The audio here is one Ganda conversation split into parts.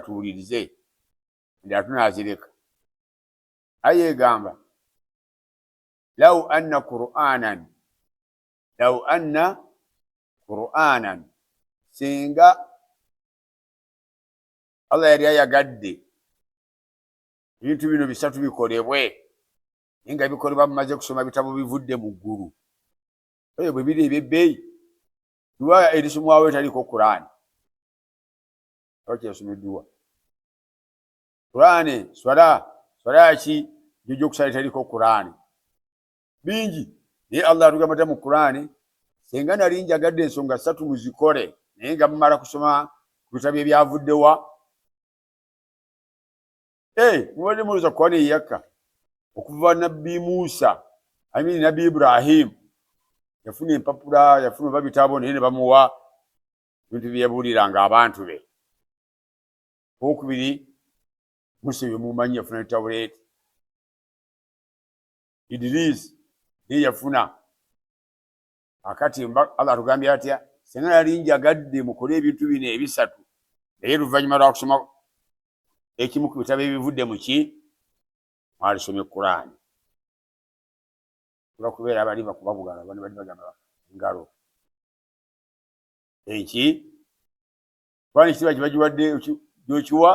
tuwulirize nda tunazireka aya egamba lau anna quranan lau anna quranan singa allah yali ayagadde ebintu bino bisatu bikolebwe naye nga bikolebwa mumaze kusoma bitabo bivudde mu ggulu ebyo bwe biri ebyebbeeyi duwa erisomwawo etaliiko kuraani abakyasomedduwa kuraani swala swala ki jojo okusala teriko kuraani bingi naye allah atugamata mu kuraani senga nali njagadde ensonga satu muzikole naye nga mumala kusoma ku bitabo ebyavuddewa eh, mubadde muloza kuraani eyakka okuva nabbi musa amini nabbi ibrahimu yafuna empapula yafuna oba bitabo naye ne bamuwa ebintu bye yabuuliranga abantu be okubiri musa ebyo mumanyi yafuna ne tawuleeti idiriisi naye yafuna akati allah atugambye atya singa yali njagadde mukole ebintu bino ebisatu naye luvannyuma lwakusoma ekimu ku bitabo ebivudde muki mwalisoma ekuraani olwakubeera abali bakubabugala bani bali bagamba engalo eki kubanga ekitiibwa kyebagiwadde gyokiwa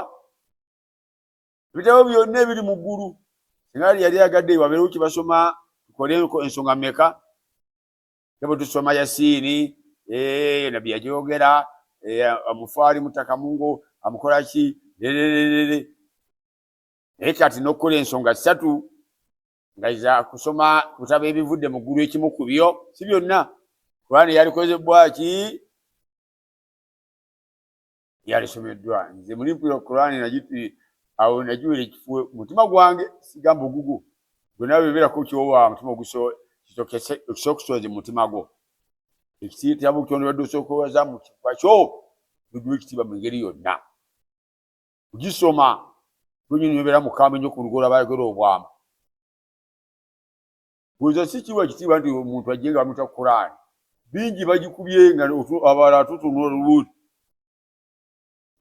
ebitabo byonna ebiri mu ggulu singa li yali agadde wabeerewo kyebasoma tukole ensonga meka tebwe tusoma yasiini eh, nabbi yagyogera eh, amufaali mutaka mungo amukolaki lerererere naye kati nokukola ensonga ssatu nga iza kusoma kutaba ebivudde mu ggulu ekimu ku byo si byonna kuraani yalikozebwaki yalisomeddwa nze muli mpulira kuraani awo nagiwera ekifu mutima gwange sigamba ogugu gwenawe beberako kyowa mutima ogusokusoozi mu mutima gwo ekitabo kyondobadde osookowaza mu kifwa kyo gugiwa ekitiibwa mu ngeri yonna kugisoma kunyonyobera mukambwe nyo ku lugola bayogera obwama kuza si kiwa ekitiibwa nti omuntu ajje nga bamuta kuraani bingi bagikubye nga abala tutunula olubuuti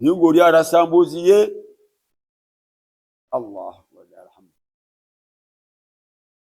naye ngaoli arasa mbuuzi ye allah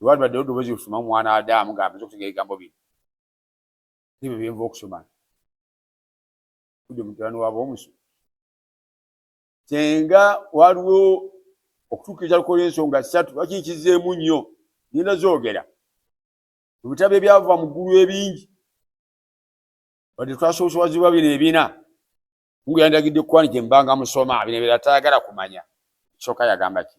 lwali badde odobozi lufuma mwana adamu nga amaze okutegera ebigambo bino ebyo byenva okusoma kudde mutabani waba omusu senga waliwo okutuukiriza lukola ensonga ssatu lwaki nkizeemu nnyo ngenda zoogera mu bitabo ebyava mu ggulu ebingi wadde twasoosowazibwa bino ebina mungu yandagidde kukwani gye mbanga musoma bino ebira tayagala kumanya kisooka yagamba ki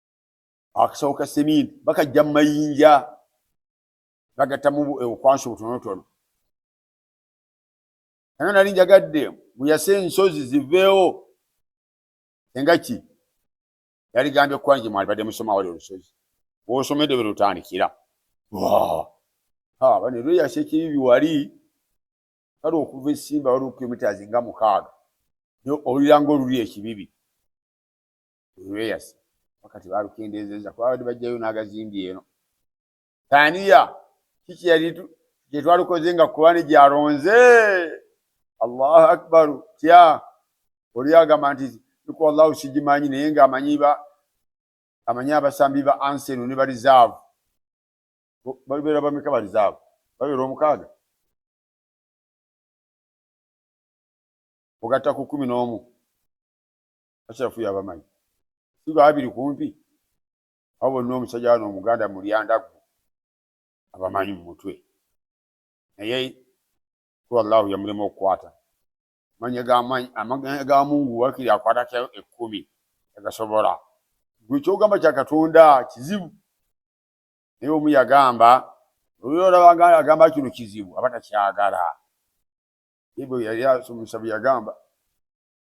akasawo ka seminti bakajja mu mayinja bagattamu eh, okwansi obutonotono anga nali njagadde muyase ensozi ziveewo enga ki yaligambye kwange mwalibadde musoma wali olusozi wosomedde be lutandikira bane lweyasa ekibibi wali kale okuva esimba waliwo kilomitas nga mukaaga owuliranga oluli ekibibi olweyasa wakati balukendeezeza kuba abadde bajjayo n'agazimbi eno taniya kiki yali gyetwalukoze nga kurani gyaronze allahu akbaru tya oli agamba nti iku allahu sigimanyi naye nga amanyi ba amanyi abasambi ba anseno ne barizaavu babeera bameka barizaavu babeera omukaaga ogatta ku kumi n'omu asharafu yabamanyi si babiri kumpi abo bonna omusajja wano omuganda mulyandaggu abamanyi mu mutwe naye kuba allahu yamulema okukwata manya ga mungu wakiri akwatako ekkumi agasobola gwe kyogamba kya katonda kizibu naye omu yagamba olwolabaganda agamba kino kizibu aba takyagala ibwe yali asomusabu yagamba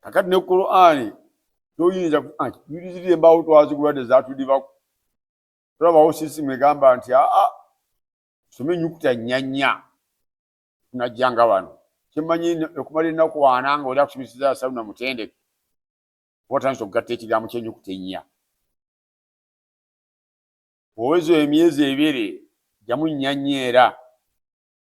kakati ne qurani toyinza yulizirira ah, embaawo twazigula tezatudibako tolabawo sisimu egamba nti aa ah, ah, some enyukuta nyanya tunajjanga wano kyemanyi okumala ennaku ana nga oli akusomeseza asalu na mutendeke oba otandisa okugatta ekigambo kyenyukuta ennya owezo emyezi ebiri jamu nyanya era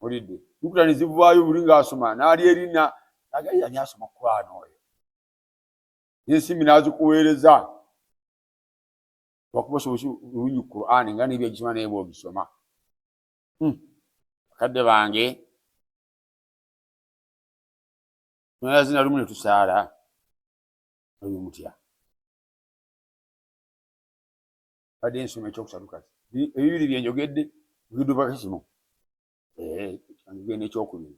mulidde nukuta nezivaayo buli ngaasoma naali erina nagali yali asoma kuraana oyo nensimbi nazikuweereza wakuba sobosi lungi kuraani nga nebyagisoma naye bwogisoma hmm. bakadde bange nayazina lumu netusaala oyo mutya badde nsoma ekyokusatu kati ebibiri byenjogedde bidubako kimu eh, genda ekyokubiri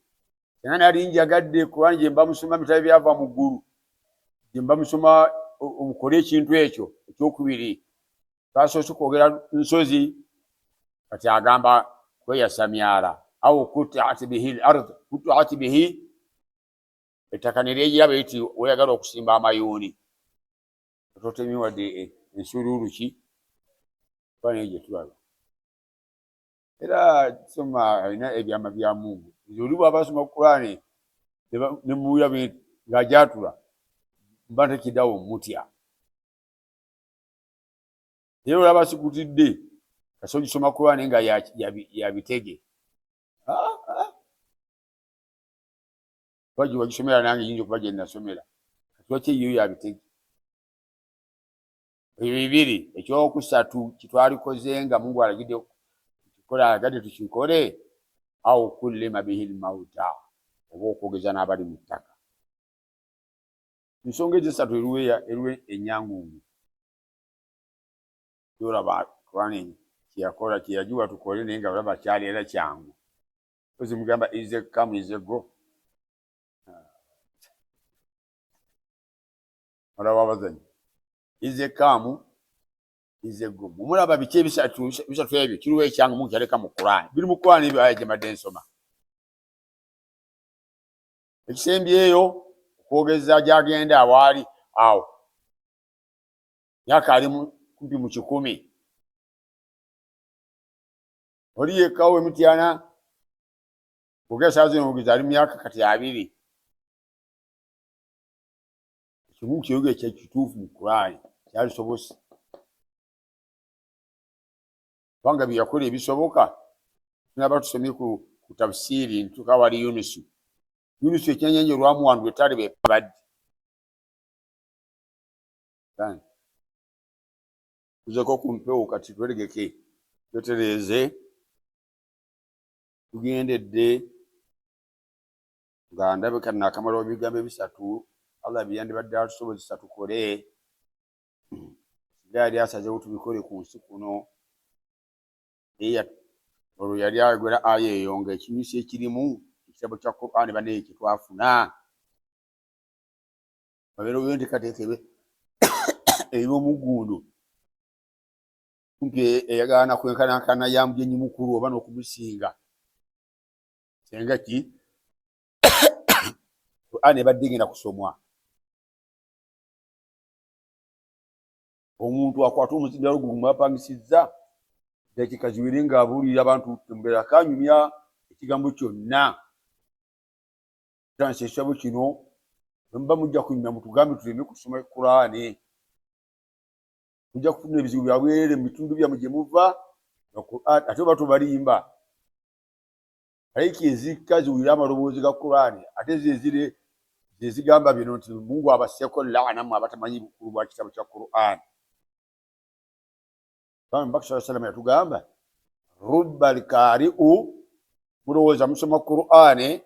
era nali njagadde kubanga gyemba musoma bitabo byava mu ggulu gyemba musoma omukole ekintu ekyo ekyokubiri twasoose kwogera nsozi kati agamba kweyasa myala au kutaat bihi lard kutaat bihi ettaka neryejiraba iti oyagala okusimba amayuuni totemye wadde e, ensuuluulu ki kuba naye gye tulaba era soma alina ebyama bya mungu nze oli bwaba asoma kulaane ne muwulira ng'ajatula mba ntekidawo mutya era olaba sikutidde kasi ogisoma kulaane nga yabitege ya, ya kuba gye wagisomera nange yinza okuba gye nasomera lwaki eyiyo yabitege ebyo bibiri ekyokusatu kitwalikoze nga mungu alagidde kikola agadde tukikole au kullima bihi lmauta oba okwogeza n'abali mu ttaka nsonga ezisatu eruwe enyangungu yolaba kurani kyeyakola kyeyagiwa tukole naye nga olaba kyali era kyangu ozimugamba ize kamu ize go olaba abazanyi ize kamu ize go mumulaba biki ebisatu bisatu ebyo kiriwo ekyange mukyaleka mu kurani biri mu kurani ebyo aya gyemadde nsoma ekisembyeyo okwogeza gyagenda awaali awo myaka ali kumpi mu kikumi oli yekka owe mityana kuga esaa zino mugizi ali myaka kati abiri ekimu kiyoga ekyekituufu mu kulaani kyalisobose kubanga byeyakola ebisoboka tunaba tusomye ku tafsiiri ntuka wali yunusu yunusu ekyenyanja olwamuwandula etale bebaddi tuzeko ku mpewo kati tweregeke twetereeze tugendedde nga ndabika nakamala ebigambo ebisatu allah byeyandibadde atusobozesa tukole nga yali asazewo tubikole ku nsi kuno olwo yali ayogera aya eyo nga ekinyusi ekirimu ekitabo kya qurani banaye kyetwafuna babeera oyo ntekateeka ebe erina omuggundu kumpi eyagala nakwenkanankana ya mugenyi mukulu oba n'okumusinga senga ki qur'an ebadde egenda kusomwa omuntu akwata omuzindalo gwe gumwapangisizza dakiika ziwere nga abuulira abantu mbeera kanyumya ekigambo kyonna tansi ekitabo kino bwemuba mujja kunyuma mutugambe tuleme kusoma kuraani mujja kufuna ebizibu byabwerere mu bitundu byamu gye muva ate oba tubalimba aiki ezikka ziwulira amaloboozi ga kuraani ate zezire zezigamba bino nti mungu abaseeko laana mu abatamanyi bukulu bwa kitabo kya kuraani bambi mubaka saa salama yatugamba rubba lkariu mulowooza musoma qur'ani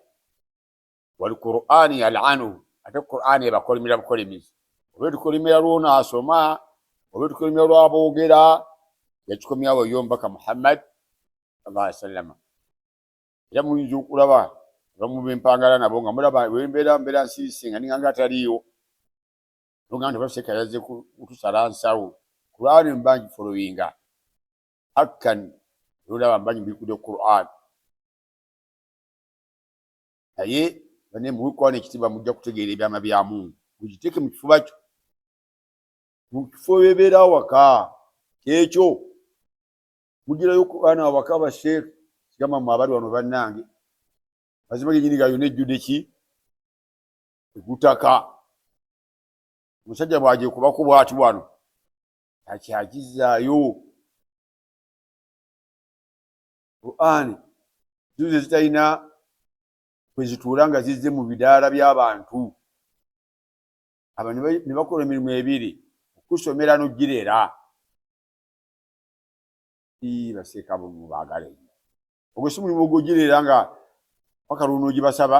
wali qur'ani yalanu ate qur'ani ebakolimira bukolimizi oba etukolimira lwona asoma oba etukolimira lwaboogera yakikomyawo yo mubaka muhammad salaa salama era muyinza okulaba abamu bempangala nabo nga mulaba wembeera mbeera nsiisi nga ninganga ataliiwo nogamba nti baseka yaze kutusala nsawo kurani mbangi folowinga akkan nolaba mbangi mbikude quran naye bane muwikwana ekitiba mujja kutegeera ebyama bya mungu mukiteeke mu kifuba kyo mu kifo bebeera awaka kyekyo mugirayo kubaana awaka basheekh sigamba mwe abali wano bannange mazima genyini gayona ejjude ki egutaka omusajja bwajekubako bwati wano akyakizaayo qurani zizo zitalina kwezituula nga zizze mu bidaala by'abantu aba ne bakola emirimu ebiri okusomera nogirera baseeka bumu baagala enyo ogwo si mulimu ogwogirera nga paka lwonoogibasaba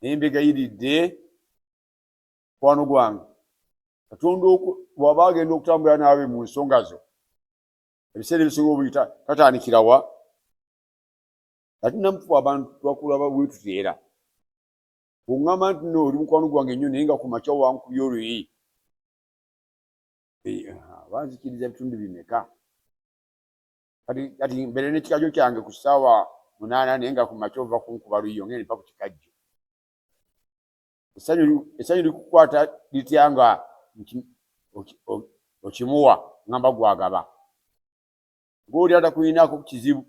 naye mbegayiridde mukwano gwange katonda bwaba agenda okutambula naawe mu nsonga zo ebiseera ebisinga obuli tatandikirawa ati namufu abantu twakulaba bwetuteera kuŋŋamba nti no oli mukwano gwange nnyo naye nga ku makya wankubya oluyi banzikiriza bitundu bimeka kati kati mbere ne kikajo kyange ku sawa munana naye nga ku macho va kunkuba luyo ngene pa ku kikajo esanyu esanyu likukwata lityanga okimuwa ngamba gwagaba goli ata kuyina ku kizibu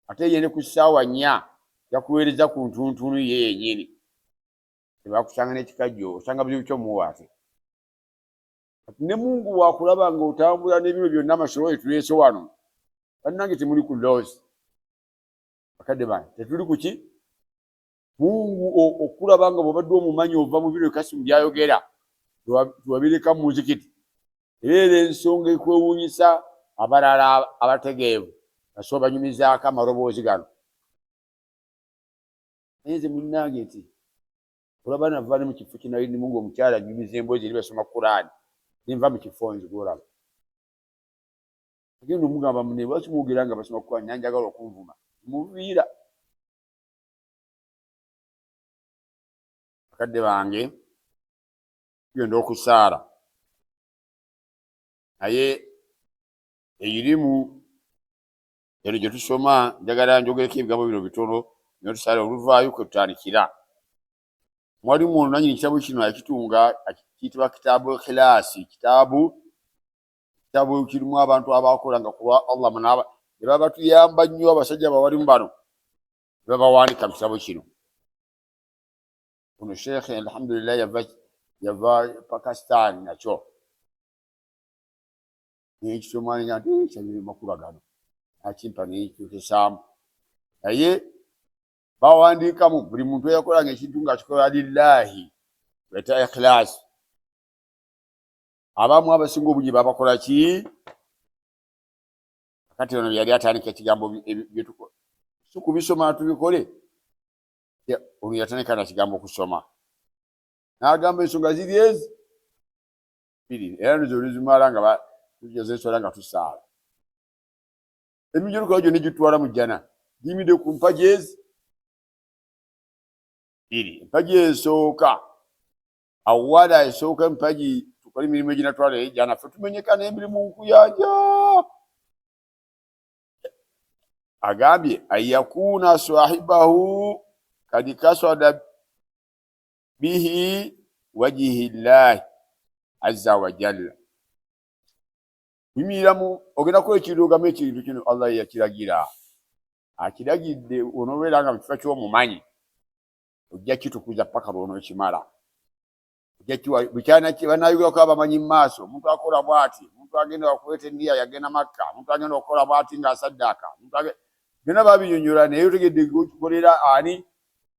ate yene ku sawa nya yakuwereza ku ntuntunu ye yenyini tebakusanga ne kikajo osanga bizibu kyo muwate ne mungu wakulaba nga otambula nebibyo byonna amasolo etulese wano bannange temuli ku loozi akadde bana tetuli kuki mungu okulaba nga bwobadde omumanyi ova mu bino kasimu byayogera twabireka mu muzikiti era era ensonga ekwewuunyisa abalala abategeevu naso banyumizaako amaloboozi gano naye nze munnange nti olaba nava ne mu kifo kye nali ndimu ng'omukyala nnyumiza emboozi eri basoma kuraani ne nva mu kifo nze gwolaba agenda omugamba mune lwaki mwogera nga basoma kuraani nanjagala okunvuma muviira bakadde bange tugenda okusaala naye eyirimu eno gye tusoma njagala njogereko ebigambo bino bitono nyo tusale oluvaayo kwe tutandikira mwalimu ono nanyini kitabo kino yakitunga kiyitibwa kitaabu khilaasi kitaabu kitabo kirimu abantu abakolanga kulwa allah munaba ne babatuyamba nnyo abasajja bawalimu bano ne babawandika mu kitabo kino ono sheekhe alhamdulillah yava yava pakistan nakyo nekityo mwana nya nti kyanyini makulu agano akimpa nekikyukisaamu naye bawandiikamu buli muntu eyakolanga ekintu nga akikola lillahi weta ikhilaasi abamu abasinga obungi babakola ki kati ono yali atandika ekigambo byetukola si kubisoma tubikole ono yatandika na kigambo kusoma n'agamba ensonga ziri ezi bbiri era nizo oluzimala nga tujaza eswala nga tusaala emijulukawo gyonna gitutwala mu jjana giyimidde ku mpagi ezi bbiri empagi esooka awala esooka empagi tukole emirimu eginatwala ejjana fe tumenyeka n'emirimu nkuyanja agambye an yakuna sahibahu kad kasada bihi wajihi llahi azza wajalla bimiriramu ogenda kuba ekirugamu ekintu kino allah yeyakiragira akiragidde onobeera nga mukifa kyomumanyi ojja kitukuza paka lwonokimala banayogerako abamanyi mumaaso omuntu akola bwati omuntu agenda wakuleeta eniya yagenda makka omuntu agenda okukola bwati nga asaddaaka byona babinyonyola naye otegedde okikolera ani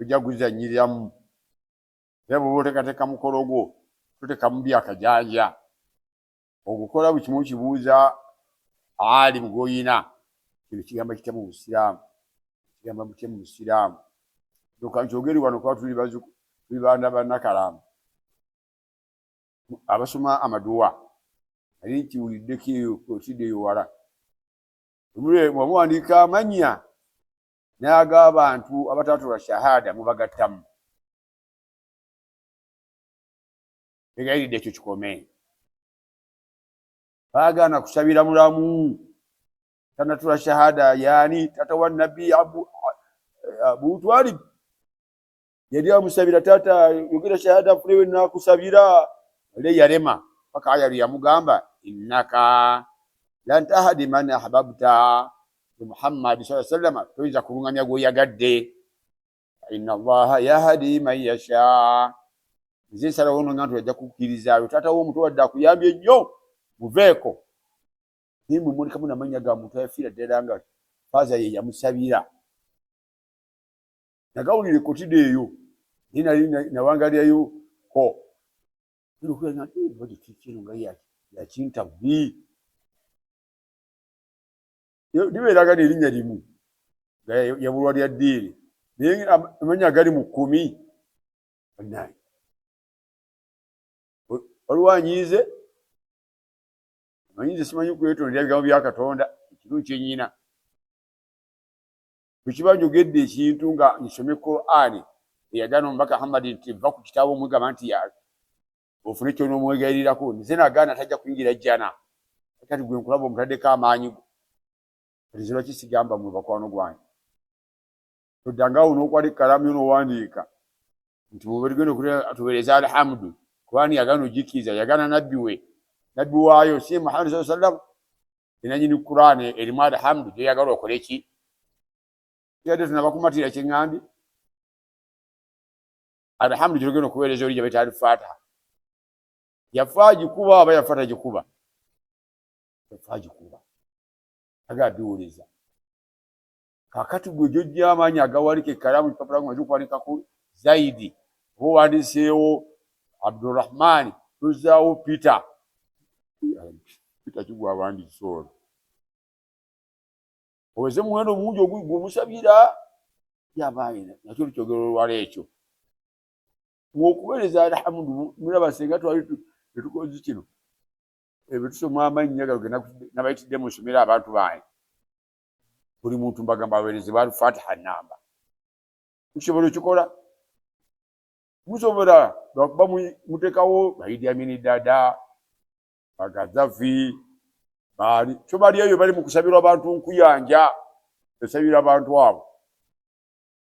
ojja kuzanyiriramu era bwoba otekateeka mukolo gwo totekamu byakajanja ogukola buli kimu kibuuza ali mugwoyina kino kigamba kitya mu busiraamu kigamba mutya mu busiraamu nokankyogeri wano kuba tuli bazuku tuli baana banakalaamu abasoma amaduwa ali nkiwuliddeko eyo otidde eyo wala omuwandiika amanya naye ag'abantu abataatula shahada mubagattamu egayiridde ekyo kikome baagaana kusabira mulamu tanatula shahada yaani tata wa nabbi abu, abu twalib yali amusabira taata yogera shahada afunewe nakusabira le yalema paka aya yamugamba innaka lan tahdi man ahbabta muhammad saa sallama toyinza kulungamya gweoyagadde ina allaha yahdi man yasha nze nsalawo no nga nti ajja kukkirizaayo taata wo omuto wadde akuyambye nnyo muveeko naye mumulikamu namanya ga muntu ayafiira ddala nga faaza ye yamusabira nagawulira ekotide eyo naye nali nawangalirayo ko nokuyaaakino nga yakinta bubi libeeraga nerinnya limu nga yabulwa lya ddiini naye amanya agali mu kkumi banaye waliwo anyiize amanyiize simanyi kwetondera bigambo bya katonda ekiruu kyenyina bwekiba njogedde ekintu nga nsome qurani eyagana omubaka hamadi nti va ku kitabo omugamba nti ofune kyonomwegayirirako nze nagaana tajja kuyingira jjana kati gwe nkulaba omutaddeko amaanyi go kati nze lwaki sigamba mwe bakwano gwange toddangaawo nokwala ekkalaamu yo nowandiika nti muberigendo tubereza alhamdu kubani yagana ojikiriza yagana nabbi we nabbi waayo si muhammad saa sallam enanyini kuraani erimu alhamdu gyoyagala okole ki yadde tunabakumatira kyeŋambye alhamdu gyogenda okuweereza oli gyabaita alifata yafa agikuba aba yafa tagikuba yafa agikuba aga abiwuliza kakati gwe gyojja amaanyi agawalika ekkalaamu kipapula nga kikuwalikaku zaidi oba owandiseewo abdurahmaani tozaawo peter peter kigwa abandisi ono oweze muwendo omungi ogwomusabira yabaayina nakyo lukyogero olwala ekyo okuweereza alhamdu mulaba senga twali etukozi kino ebyo tusoma amannya gano nabayitidde musomera abantu bange buli muntu mbagamba awereze ba alfatiha namba mukisobola okikola musobola lwakuba mutekawo baidi amini dada bagazafi bali kyo bali eyo bali mukusabirwa abantu nkuyanja esabira abantu abo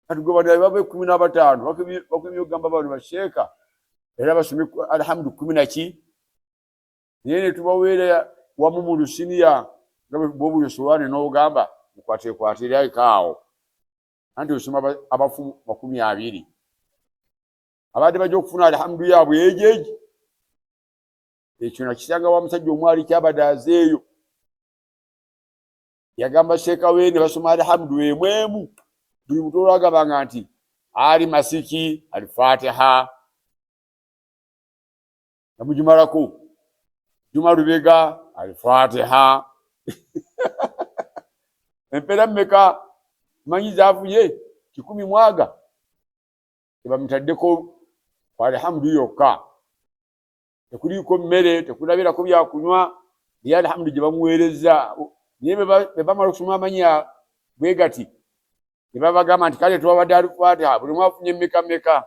kati gwe banaye baba ekumi n'abataano bakumye okugamba bano basheeka era basome alhamdu kumi naki naye netubaweera wamu mu lusiniya nga bwobuli osowaani n'ogamba mukwatekwatire ekaawo anti osoma abafu makumi abiri abadde bajja okufuna alhamdu yaabwe ejeji ekyo nakisanga wa musajja omwali kyabadde azeeyo yagamba sheeka we ne basoma alhamdu emu emu buli mutu olwagabanga nti ali masiki alifatiha namugimalako juma lubega alifatiha empera meka manyi zavuye kikumi mwaga tebamutaddeko alhamdu yokka tekuliiko mmere tekulabirako byakunywa naye alhamdu gye bamuweereza naye bebamala okusoma amanya bwe gati ne babagamba nti kale tubabadde alufatiha buli mwafunye mmeka mmeka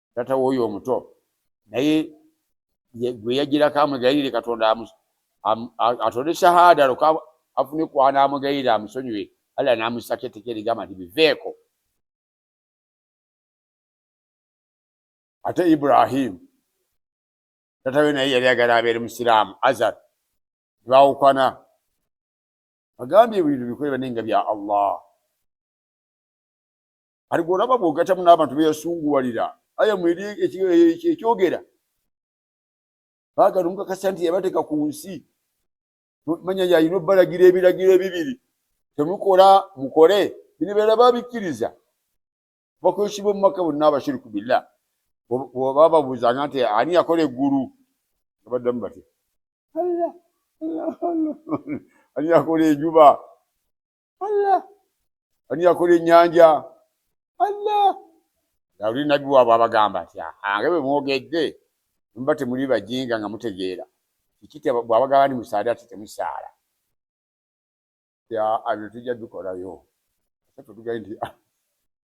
tata woyo omuto naye gwe yajirako amwegayirire katonda atode shahada loka afune kwana amwegayirire amusonyiwe alla namusako etteka erigamba nti biveeko ate ibrahimu tata we naye yali agala abeere musiraamu azar nebawukana agambye ebintu bikole bane nga bya allah ati gweolaba bwogatamu n'abantu beyasunguwalira aya mweri ekyogera baagala omukakasa nti yabateeka ku nsi manya yalina obbalagira ebiragiro ebibiri temukola mukole bino beera babikkiriza bakwesiba omumaka bonna abashiriku billah bababuuzanga nti ani yakola eggulu nga baddamu batya ani yakola enjuba Allah ani yakola ennyanja Allah dawudi nabbi waabwe abagamba nti ange bwe mwogedde muba temuli bajinga nga mutegeera kiki bwabagamba ni musaade ati temusaala ya abyo tujja bikolayo ate tutugaye nti ah,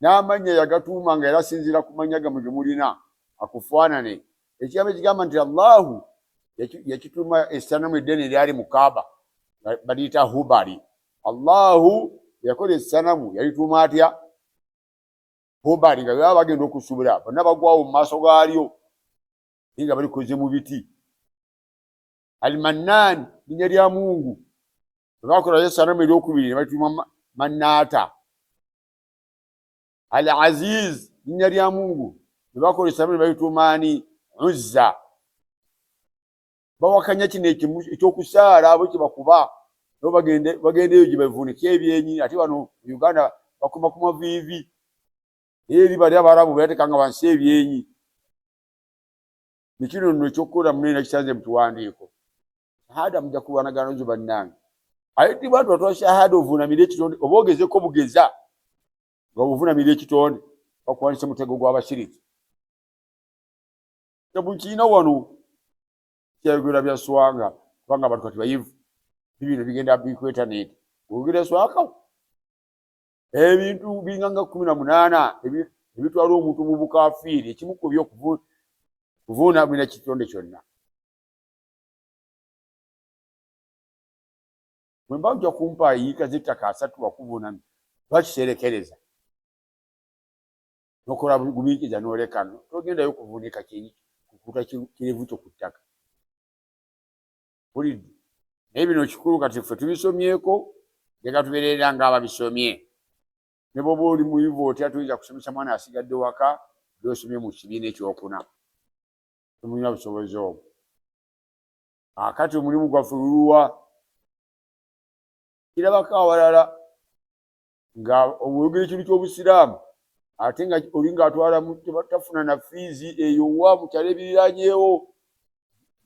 n'amannya yagatuuma nga era asinziira ku mannya gamwe ge mulina akufaanane ekigambo ekigamba nti allahu yakituuma esanamu eddene eryali mu kaaba baliyita hubali allahu yakola esanamu yalituuma atya hubali nga baba bagenda okusubula bonna bagwawo mu maaso gaalyo naye nga balikoze mu biti almannaani linya lya mungu bwebakolayo esanamu eryokubiri nebalituuma mannaata al aziz linnya lya mungu nebakolesamu nebaitumaani uzza bawakanya kino ekyokusaala bwe kyebakuba no bagendeyo gyebavunika ebyenyi ate wano uganda bakuma ku maviivi eri bali abarabu beyatekanga wansi ebyenyi nekino no ekyokukola munene nakisanze mukiwandiiko shahada muja kulwanagana nzo bannange aye ti bantu batwa shahada ovunamira ekitonde oba ogezeko bugeza nga ovunamira ekitonde bakuwanise mutego gwabashiriki tebukiina wano kyayogera bya swanga kubanga abantu kati bayivu bibino bigenda bikwetaneti ogera swaka ebintu binganga kumi na munaana ebitwala omuntu mu bukafiiri ekimu kubyo kuvunamira kitonde kyonna bwe mba ojja kumpa yiika z'ettaka asatu wakuvunana lwakiseerekereza nokola gumiikiza n'olekano togendayo kuvunika kukuta kirevu kyo ku ttaka bulidde naye bino kikulu kati ffe tubisomyeko leka tubereera nga ababisomye ne bwoba oli muyivu otya tuyinza kusomesa mwana asigadde waka byosomye mu kibiina ekyokuna temulina busobozi obwo akati omulimu gwaffe luluwa kirabako awalala nga oyogera ekintu ky'obusiraamu ate nga oli ngaatwala tafuna na fiizi eyo wa mukyalo ebiriranyewo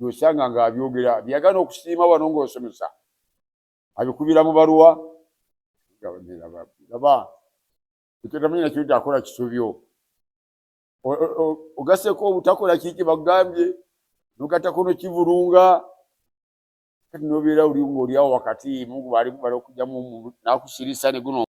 osanga ngaabyogera byagana okusiima wano ngaosomesa abikubira mu baluwa laba ekyotamanyi nakyo nti akola kisobyo ogaseko obutakola kiki bagambye nogatako nokivulunga kati nobeera oli ngaolyawo wakati mungu bali okujamu nakusirisa neguno